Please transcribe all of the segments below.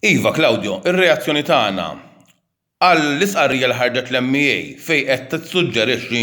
Iva, Claudio, ir-reazzjoni tagħna għall-istqarrija li ħarġet l-MEA fejn qed tissuġġerixxi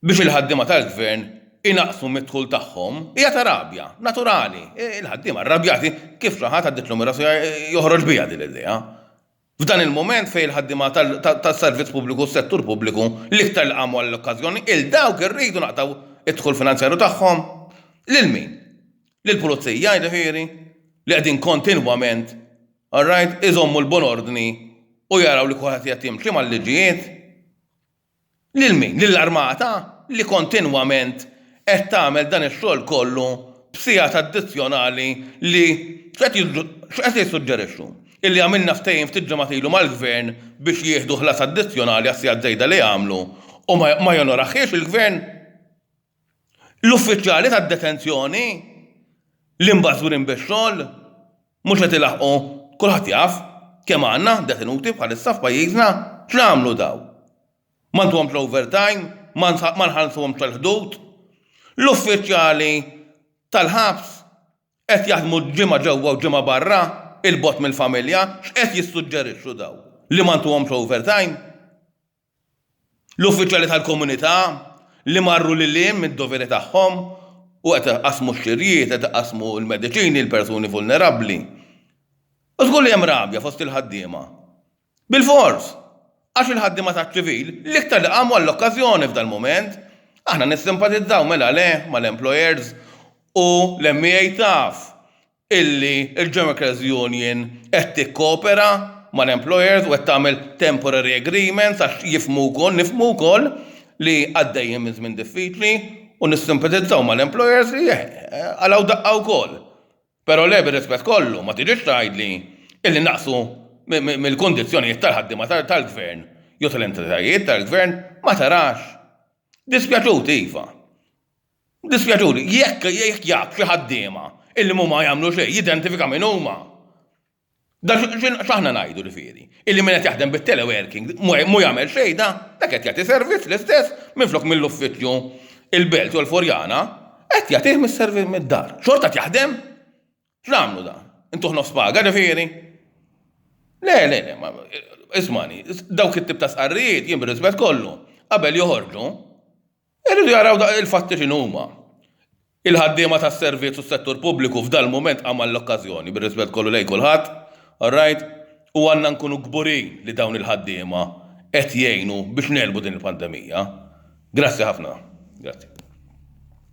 biex il-ħaddiema tal-Gvern inaqqsu mid-dħul tagħhom hija ta' rabja, naturali. Il-ħaddiema rrabjati kif xi ħadd għaddilhom ir-rashija joħroġ biha din l-idea. F'dan il-mument fejn il-ħaddiema tas-servizz pubbliku u s-settur pubbliku l-iktar li qamu għall-okkażjoni, 'il dawk irridu naqtgħu d-dħul finanzjarju tagħhom. Lil min? Lill-pulizija, jiġifieri, li qegħdin kontinwament, all right, iżommu l-buon ordni u jaraw li kulħadd qiegħed jimxi mal-liġijiet. Lil min? Lill-armata li kontinwament qed tagħmel dan ix-xogħol kollu b'sigħat addizzjonali li x'qed jissuġġerixxu? Illi għamilna ftehim ftit ġimgħat ilu mal-Gvern biex jieħdu ħlas addizzjonali għas-sigħat żejda li għamlu u ma jonorahiex il-Gvern? L-uffiċjali tad-detenzjoni li mbażwrin bix-xogħol Mhux qed ilaħħqu, kulħadd jaf kemm għandna detenuti bħalissa f'pajjiżna, x'nagħmlu dawn? Ma ntuhomx l-overtime, ma nħallsuhomx tal-ħdud? L-uffiċjali tal-ħabs qed jaħdmu ġimgħa ġewwa u ġimgħa barra, 'il bogħod mill-familja, x'qed jissuġġerixxu dawn? Li ma ntuhomx overtime? L-uffiċjali tal-komunità li marru lil hinn mid-doveri tagħhom u qed iqassmu x-xirjiet, qed iqassmu l-mediċini lill-persuni vulnerabbli. U żgur li hemm rabja fost il-ħaddiema. Bilfors! Għax il-ħaddiema taċ-ċivil l-iktar li qamu għall-okkażjoni f'dal-mument. Aħna nissimpatizzaw, mela le, mal-employers u l-MEA taf illi l-Gemicals Union qed tikkopera mal-employers u qed tagħmel temporary agreements għax jifhmu wkoll, nifhmu wkoll li għaddejjin minn żmien diffiċli u nissimpatizzaw mal-employers li qalgħu daqqa wkoll. Però le bir-rispett kollu ma tiġix tgħidli illi naqsu mill-kundizzjonijiet tal-ħaddiema tal-Gvern jew tal-entitajiet tal-Gvern ma tarax. Dispjaċut iva. Dispjaċuni, jekk jaf xi ħaddiema illi mhuma jagħmlu xejn, jidentifika min huma. Da x'aħna ngħidu ġifieri? Illi min qed jaħdem bit-teleworking mhu jagħmel xejn da? Dak qed jagħti servizz l-istess minflok mill-uffiċċju il-Belt jew il-Furjana, qed jagħtih mid-dar. Xorta qed jaħdem? X'nagħmlu dan? Intuħ nofs paga ġifieri? Le, le, le, ma ismani, dawk it-tip ta' sqarrijiet jien bir-rispett kollu, qabel joħorġu, irridu jaraw il-fatti x'inhuma. Il-ħaddiema tas-servizz u s-settur pubbliku f'dal-mument għamal l-okkażjoni, bir-rispett kollu lejn kulħadd, all right, u għandna nkunu kburin li dawn il-ħaddiema qed jgħinu biex negħlbu din il-pandemija. Grazzi ħafna. Grazzi.